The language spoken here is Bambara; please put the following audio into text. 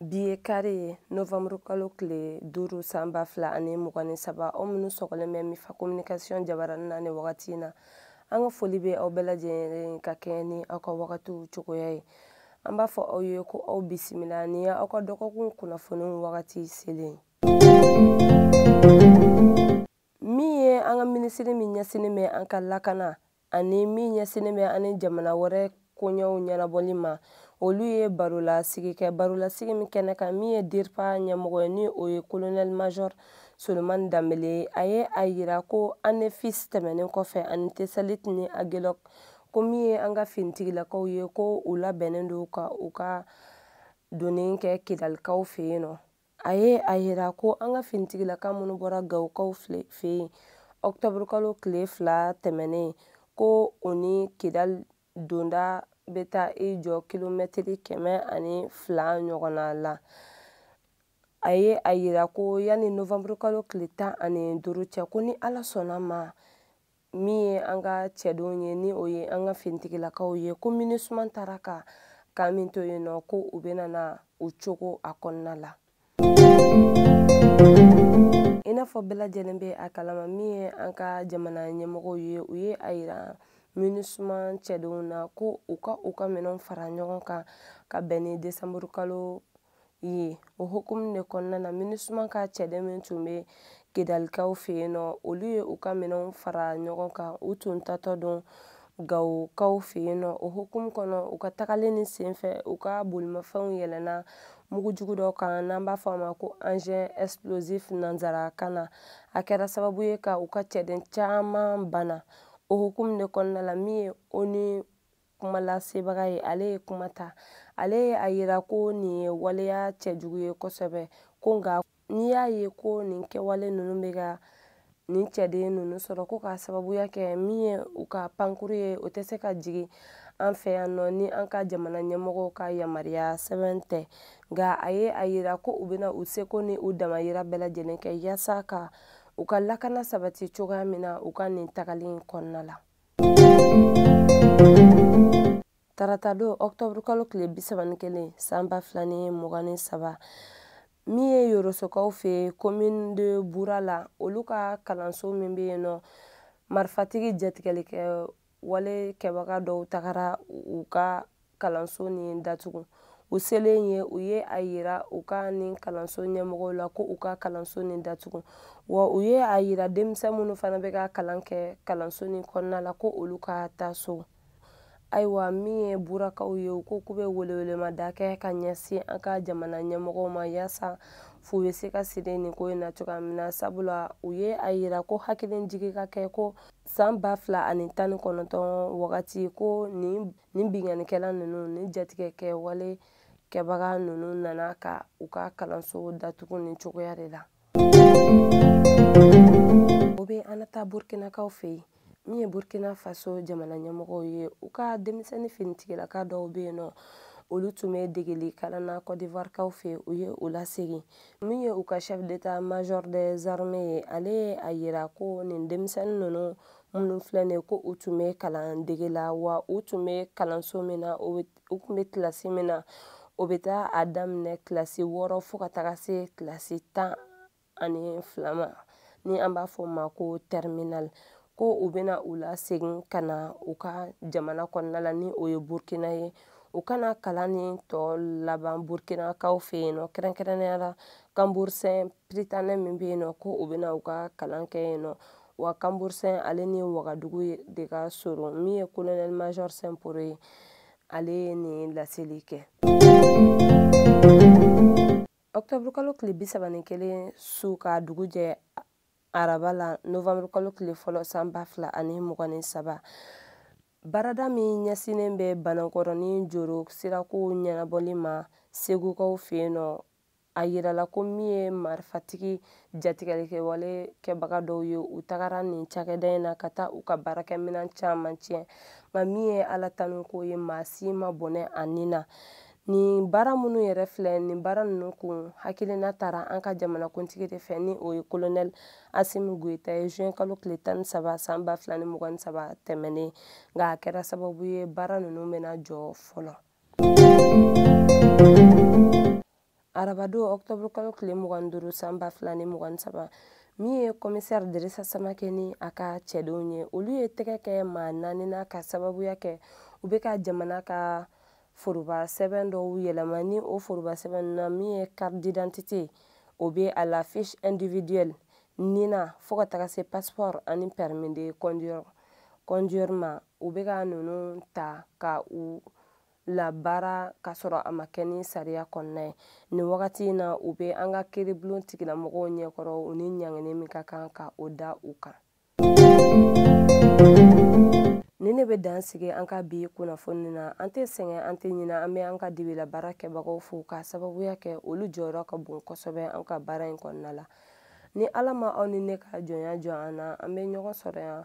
bi ye kari ye novanburu kalo tile duuru san ba fila ani mugan ni saba aw minnu sɔgɔlen bɛ mifa kominikasiyɔn jabarani na ni wagati na an ka foli bɛ aw bɛɛ lajɛlen ka kɛɲɛ ni aw ka wagatiw cogoya ye an b'a fɔ aw ye ko aw bisimila ni aw ka dɔgɔkun kunnafoniw wagati selen min ye an ka minisiri min ɲɛsinnen bɛ an ka lakana ani min ɲɛsinnen bɛ an ni jamana wɛrɛ koɲɛw ɲɛnabɔli ma olu ye barolasigi kɛ barolasigi min kɛnɛ kan min ye dirpa ɲɛmɔgɔ ye ni o ye kolonɛl major solomani danbele ye a ye a yira ko anefis tɛmɛnen kɔfɛ ani tesalit ni agelɔk ko min ye an ka finitigilakaw ye ko u labɛnnen don ka u ka donni kɛ kidalikaw fɛ yen nɔ a ye a yira ko an ka finitigilaka minnu bɔra gawokaw fɛ yen ɔkutɔburukalo tile fila tɛmɛnen ko u ni kidali donda bɛ taa i jɔ kilomɛtiri kɛmɛ ani fila ɲɔgɔnna la a ye a yira ko yanni novanburukalo tile tan ani duuru cɛ ko ni ala sɔnna ma min ye an ka cɛdenw ye ni o ye an ka finitigilakaw ye ko minusuma taara ka kan min to yen nɔ ko u bɛna na u cogo a kɔnɔna la i n'a fɔ bɛɛ lajɛlen bɛ a kalama min ye an ka jamana ɲɛmɔgɔw ye u ye a yira minusuma cɛdenw na ko u ka u ka minɛnw fara ɲɔgɔn kan ka bɛn ni desanburukalo ye o hukumu de kɔnɔna na minusuma ka cɛden min tun bɛ kidalikaw fɛ yen nɔ olu ye u ka minɛnw fara ɲɔgɔn kan u tun tatɔ don gawokaw fɛ yen nɔ o hukumu kɔnɔ u ka tagali nin senfɛ u ka bolimafɛnw yɛlɛnna mugu jugu dɔ kan n'an b'a fɔ a ma ko engin explosif nanzara kan na a kɛra sababu ye ka u ka cɛden caman bana o hukumu de kɔnɔna la min ye onu kuma lasebaga ye ale ye kuma ta ale ye a yira ko nin ye waleya cɛjugu ye kosɛbɛ ko nka n'i y'a ye ko nin kɛwale ninnu bɛ ka nin cɛden ninnu sɔrɔ ko k'a sababuya kɛ min ye u ka pankuru ye o tɛ se ka jigin an fɛ yan nɔ ni an ka jamana ɲɛmɔgɔw ka yamaruya sɛbɛn tɛ nka a ye a yira ko u bɛna u seko ni u damayira bɛɛ lajɛlen kɛ yaasa ka u ka lakana sabati cogoya min na u ka nin tagali in kɔnɔna la tarata don ɔktɔburu kalo tile bi saba ni kelen san ba fila ni mugan ni saba min ye yorosokaw fɛ commune de bura la olu ka kalanso min bɛ yen nɔ marifatigi jatigɛli kɛwale kɛbaga dɔw tagara u ka kalanso nin datugu u selen ye u ye a yira u ka nin kalanso ɲɛmɔgɔw la ko u ka kalanso nin datugu wa u ye a yira denmisɛn minnu fana bɛ ka kalan kɛ kalanso nin kɔnɔna la ko olu ka taa so ayiwa min ye burakaw ye u ko k'u bɛ welewelemada kɛ ka ɲɛsin an ka jamana ɲɛmɔgɔw ma yaasa fu bɛ se ka siri nin ko in na cogoya min na sabula u ye a yira ko hakilijigin ka kɛ ko san ba fila ani tan ni kɔnɔntɔn wagati ko nin nin binkannikɛla ninnu ni jatigɛkɛwale kɛbaga ninnu nana ka u ka kalanso datugu nin cogoya de la o bɛ an na taa burkinakaw fɛ yen min ye burkina faso jamana ɲɛmɔgɔw ye u ka denmisɛnnin finitigilaka dɔw bɛ yen nɔ olu tun bɛ degeli kalan na kɔdivarikaw fɛ u ye u lasegin min ye u ka chef d'état major des armées ye ale ye a yira ko nin denmisɛnnin ninnu minnu filɛ nin ye ko u tun bɛ kalan dege la wa u tun bɛ kalanso min na u tun bɛ kilasi min na o bɛ taa a daminɛ kilasi wɔɔrɔ fo ka taga se kilasi tan ani fila ma ni an b'a fɔ o ma ko terminale ko u bɛna u lasegin ka na u ka jamana kɔnɔna la ni o ye burkina ye u ka na kalan nin tɔ laban burkinakaw fɛ yen nɔ kɛrɛnkɛrɛnnenya la kanbursɛn piritanɛ min bɛ yen nɔ ko u bɛna u ka kalan kɛ yen nɔ wa kanburusɛn ale ni wagadugu de ka surun min ye kolonɛli majɔr simpore ye ale ye nin laseli kɛ ɔktɔburukalo tile bi saba ni kelen su ka dugu jɛ araba la novanburukalo tile fɔlɔ san ba fila ani mugan ni saba baarada min ɲɛsinnen bɛ banankɔrɔ ni joro sirakow ɲɛnabɔli ma segukaw fɛ yen nɔ a yirala ko min ye marifatigi jatigɛlikɛwale kɛbaga dɔw ye u tagara nin cakɛda in na ka taa u ka baarakɛminɛn caman tiɲɛ nka min ye ala tanu ko ye maa si ma bɔnɛ a ni na nin baara minnu yɛrɛ filɛ nin baara ninnu kun hakilina tara an ka jamanakuntigi de fɛ ni o ye kolonɛli asimi goyita ye juin kalo tile tan ni saba san ba fila ni mugan ni saba tɛmɛnen nka a kɛra sababu ye baara ninnu bɛna jɔ fɔlɔ arabadon ɔktɔburu kalo tile mugan duuru san ba fila ni mugan saba min ye kɔmisɛri dirisa samakɛ ni a ka cɛdenw ye olu ye tɛgɛ kɛ maa naani na ka sababuya kɛ u bɛ ka jamana ka foroba sɛbɛn dɔw yɛlɛma ni o foroba sɛbɛn na min ye carte d'identité o bɛ a la fiche individuelle nina fo ka taga se passeport ani permis de conduire ma u bɛ ka ninnu ta ka u labaara k'a sɔrɔ a ma kɛ ni sariya kɔnɔna ye nin wagati in na u bɛ an ka kiiribulon tigilamɔgɔw ɲɛkɔrɔ u ni ɲangini min ka kan ka o da u kan nin de bɛ dan sigi an ka bi kunnafoni na an tɛ sɛgɛn an tɛ ɲina an bɛ an ka dibila baara kɛbagaw fo k'a sababuya kɛ olu jɔyɔrɔ ka bon kosɛbɛ an ka baara in kɔnɔna la ni ala ma aw ni ne ka jɔnya jɔ an na an bɛ ɲɔgɔn sɔrɔ yan